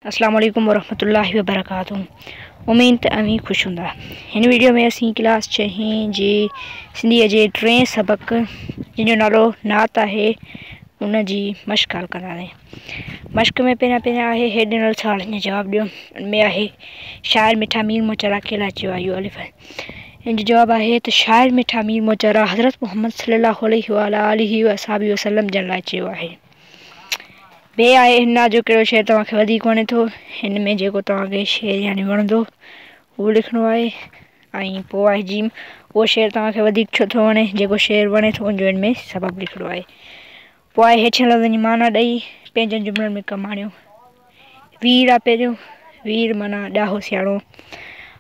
اسلام عليڪم ورحمة الله وبرڪاته اميد ته اوهين خوش هوندا هن ويڊيو ۾ اسين ڪلاس ڇهين جي سنڌيء جي ٽئين سبق جن جو نالو نعت آهي ان جي مشق حل ڪنداسين مشق ۾ پهريان پهريان آهي هيٺ ڏنل سوالن جو جواب ڏيو ان ۾ آهي شاعر مٺا مير موچا لاء ڪهڙا چيو آهي اهو الف آهي ان جو جواب آهي ته شاعر مٺا مير موچا لاء حضرت محمد صلي الله عليه وآله وسلم جن لاء چيو آهي ڀي آء هنا جو ڪهڙو شعر توهان کي وڌيڪ وڻي ٿو هن ۾ جيڪو توهان کي شعر يعني وڻندو اهو لکڻو آهي ۽ پوء آء جيم اهو شعر توهان کي وڌيڪ ڇو ٿو وڻي جيڪو شعر وڻي ٿو ان جو هن ۾ سبب لکڻو آهي پوء آء هيٺين لفظن جي معنيٰ ڏئي پنهنجن جملن ۾ ڪم آڻيو وير آ پهريون وير معنيٰ ڏاهو سياڻو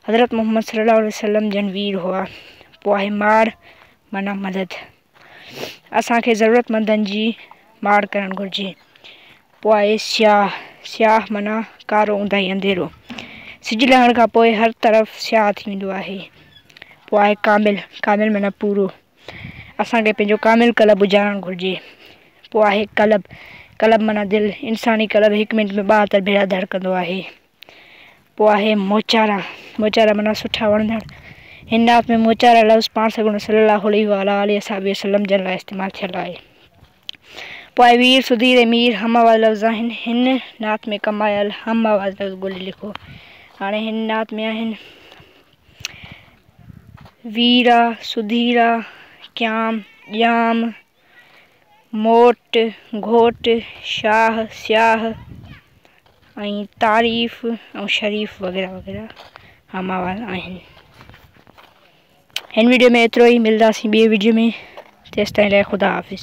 حضرت محمد صلي الله عليه وسلم جن وير هئا پوء آهي مار معنيٰ مدد اسان کي ضرورتمندن جي ماڙ ڪرڻ گهرجي پوء آهي سياح سياح معنيٰ ڪارو اونداهي انڌيرو سج لهڻ کان پوء هر طرف سياح ٿي ويندو آهي پوء آهي ڪامل ڪامل معنيٰ پورو اسانکي پنهنجو ڪامل ڪلب اجهارڻ گهرجي پوء آهي ڪلب ڪلب معنيٰ دل انساني ڪلب هڪ منٽ ۾ ٻاهتر ڀيرا ڌڙڪندو آهي پوء آهي موچارا، موچارا معنيٰ سٺا وڻندڙ. هن آيت ۾ موچارا لفظ پاڻ سڳورن صلّي اللّٰه عليه وعلٰي آله وصحبه وسلّم جن لاء استعمال ٿيل آهي. پوء آهي وير، سڌير ۽ مير هم آواز لفظ آهن. هن نعت ۾ ڪم آيل هم آواز لفظ ڳولي لکو. هاڻي هن نعت ۾ آهن، ويرا، سڌيرا، ڪيام، ڄام، موٽ، گهوٽ، شاهه، سياهه ۽ تعريف ۽ شريف وغيره وغيره اها مواد آهن. هن ويڊيو ۾ ايترو ئي ملداسين ٻي ويڊيو ۾ تيستائين لاء خدا حافظ.